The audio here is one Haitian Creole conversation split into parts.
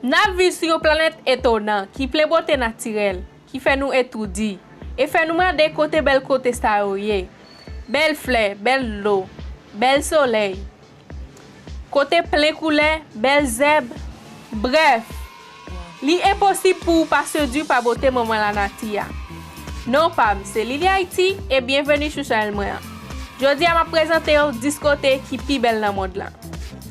N ap viv sou yon planèt etonan ki plen bote natirèl ki fè nou etoudi e fè nou mande kote bèl kote sa yo ye, bèl flè, bèl dlo, bèl solèy, kote plen koulè, bèl zèb. Brèf, li enposib pou ou pa sedwi pa bote manman lanati a. Non pa m se Lili Ayiti e byenveni sou chanèl mwen an. Jodi a m ap prezante w 10 kote ki pi bèl nan mond lan.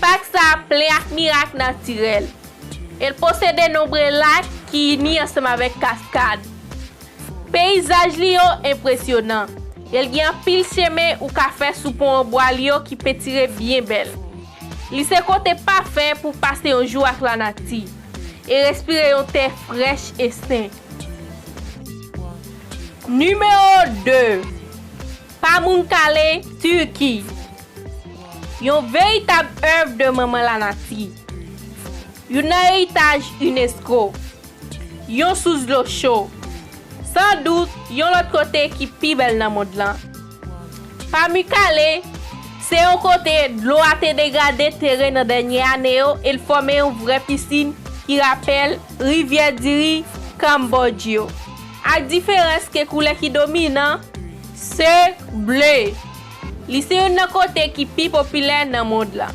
Pak sa a plen ak mirak natirèl e l posede nonbre lak ki ini ansanm avèk kaskad. Peyizaj li yo enpresyonan e l gen anpil chemen ou ka fè sou pon an bwa li yo ki pentire byen bèl. Li se kote pafè pou w pase yon jou ak lanati e respire yon tè frèch e sen. Nimewo 2, Pamunkale, Turki. Yon veritab èv de manman lanati. Youn nan eritaj unesco. Yon sous dlo cho. San dout, yon lòt kote ki pi bèl nan mond lan. Pamukkale, se yon kote dlo a te degrade teren nan dènye ane yo e l fòme yon vrè pisin ki rapèl Rivyè Diri, Cambodge, ak diferans ke koulè ki dominan se ble. Li se youn nan kote ki pi popilè nan mond lan.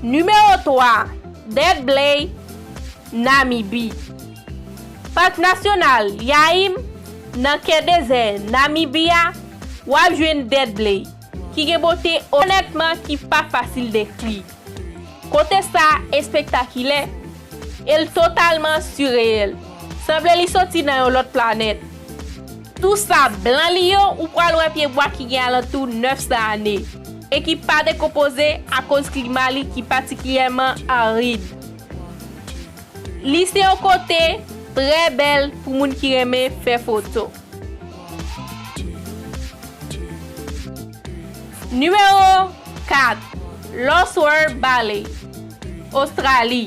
Nimewo 3, Dead Blay, Namibi. Pak Nasyonal Yaïm, Nan kè dezè Namibi a, w ap jwenn Dead Blay, ki gen bote onètman ki pa fasil dekri. Kote sa espektakilè e l totalman sireyèl. Sanble li soti nan yon lòt planèt. Tou sa blan li yo ou pral wè pyebwa ki gen alantou 900 ane e ki pa dekonpoze akoz klima li ki patikilyèman arid. Li se yon kote trè bèl pou moun ki renmen fè foto. Nimewo 4, Lost World Ballet, Ostrali.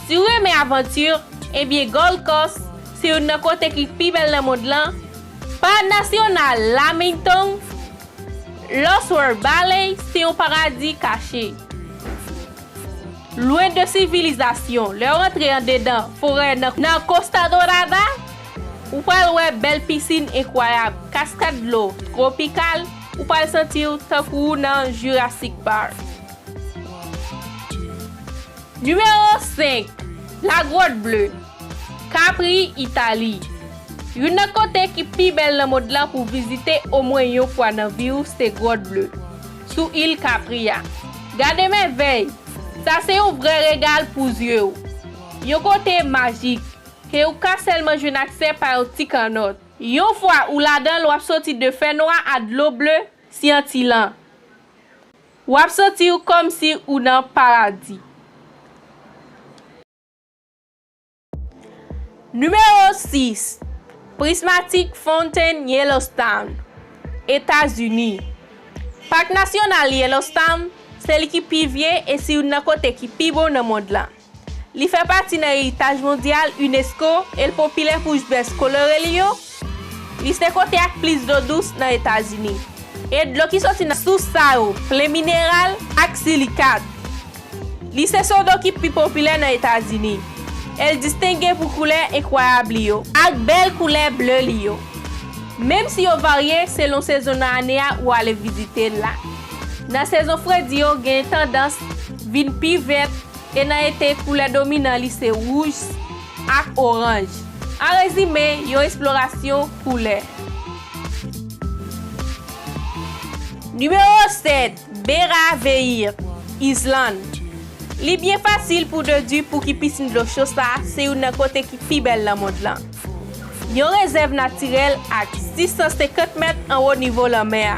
Si ou renmen avanti, enbyen Gold Coast se youn nan kote ki pi bèl nan mond lan, Parad Nasyonal Lamington, Lost World Ballet se yon paradi kache. Lwen de sivilizasyon, lè ou antre andedan forè nan Costa Dorada, Ou pral wè bèl pisin enkwayab, kaskad dlo, twopikal, ou pral santi w tankou ou nan Jurassic Park. Nimewo 5, La Grotte Bleue, Capri, Itali. Youn nan kote ki pi bèl nan mond lan pou vizite omwen yon fwa nan vi w se Grotte Bleue, sou il Capri a. Gade mèvèy! Sa se yon vrè regal pou zye w. Yon kote majik. e ou ka sèlman jwenn aksè pa yon ti kannòt. Yon fwa ou ladan l w ap soti de fè nwa a dlo ble syanti lan. W ap santi w kòmsi ou nan paradi. Nimewo 6, Prismatic Fountain Yellowstone, Etazini Pak Nasyonal Yellowstone se li ki pi vye e si youn nan kote ki pi bon nan mond lan. Li fè pati nan eritaj mondyal unesco e l popilè pou jbès kolore li yo. Li se kote ak plis dlo dous nan Etazini, e dlo ki soti nan sous sa yo plen mineral ak silikat. Li se sodo ki pi popilè nan Etazini, e l distenge pou koulè enkwayab li yo ak bèl koulè ble li yo, menm si yo varye selon sezon nan ane a ou ale vizite la. Nan sezon fredi yo gen tandans vin pi vèt. E nan ete, koulè dominan li se wouj ak oranj. An rezime, yon esplorasyon koulè. Nimewo 7, Bera Veir, Izlann. Li byen fasil pou dedwi pouki pisin dlo cho sa se youn nan kote ki pi bèl nan mond lan. Yon rezèv natirèl ak 650 mèt anwo nivo lanmè a.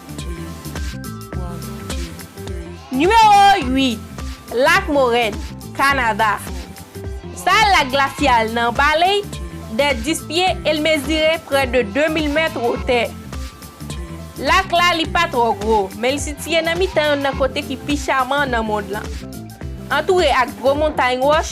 Nimewo 8, Lak Morèn, Kanada Sa a lak glasyal nan baley de 10 pye e l mezire prè de 2000 mèt wotè. Lak la li pa twò gwo, men li sitiye nan mitan youn nan kote ki pi chaman nan mond lan. Antoure ak gwo montay wòch,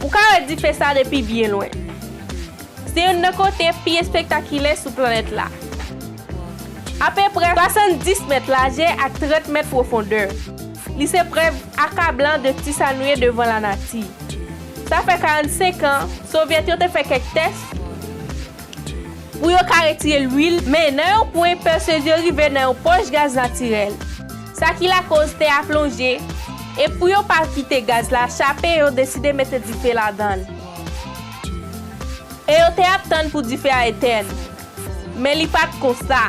Ou ka wè dife sa depi byen lwen. Se youn nan kote pi espektakilè sou planèt la. Apeprè 70 mèt lajè ak 30 mèt pwofondè, li se prèv akablan de ti sa nou ye devan lanati. Sa fè 45 an, Sovyèt yo te fè kèk tès. Pou yo ka retire lwil, men nan yon pwen pèsez yo rive nan yon pòch gaz natirèl. Sa ki lakoz tè a plonje, e pou yo pa kite gaz la chape yo deside mete dife ladan l. E yo te ap tann pou dife a etèn. Men li pat konsa.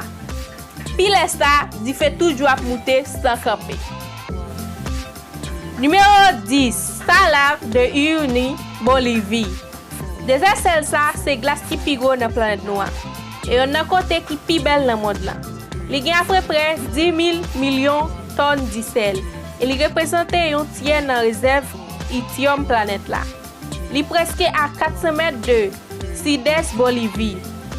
Pi lè sa, dife toujou ap moute san kanpe. Nimewo 10, Salave de Uyuni, Bolivi. Dezè sèl sa a se glas ki pi gwo nan planèt nou an, e yonn nan kote ki pi bèl nan mond lan. Li gen apreprè 10,000 milyon tòn di sèl, e li reprezante yon tyè nan rezèv ityòm planèt la. Li prèske a 400 mèt de sidès Bolivi,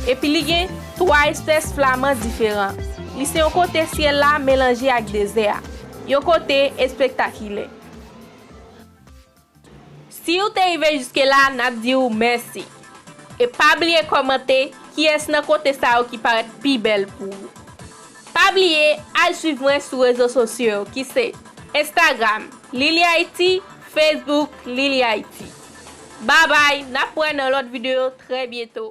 epi li gen twa espès flaman diferan. Li se yon kote syèl la melanje ak dezè a. Yon kote espektakilè. Siw te rive jiske la nap diw mèsi. E pa bliye kòmante kiyès nan kote sa yo ki parèt pi bèl pou ou. Pa bliye al swiv mwen sou rezo sosyo yo ki se, Instagram, Lilihaiti, Facebook, Lilihaiti. Babay, nap wè nan lòt videyo trè byento.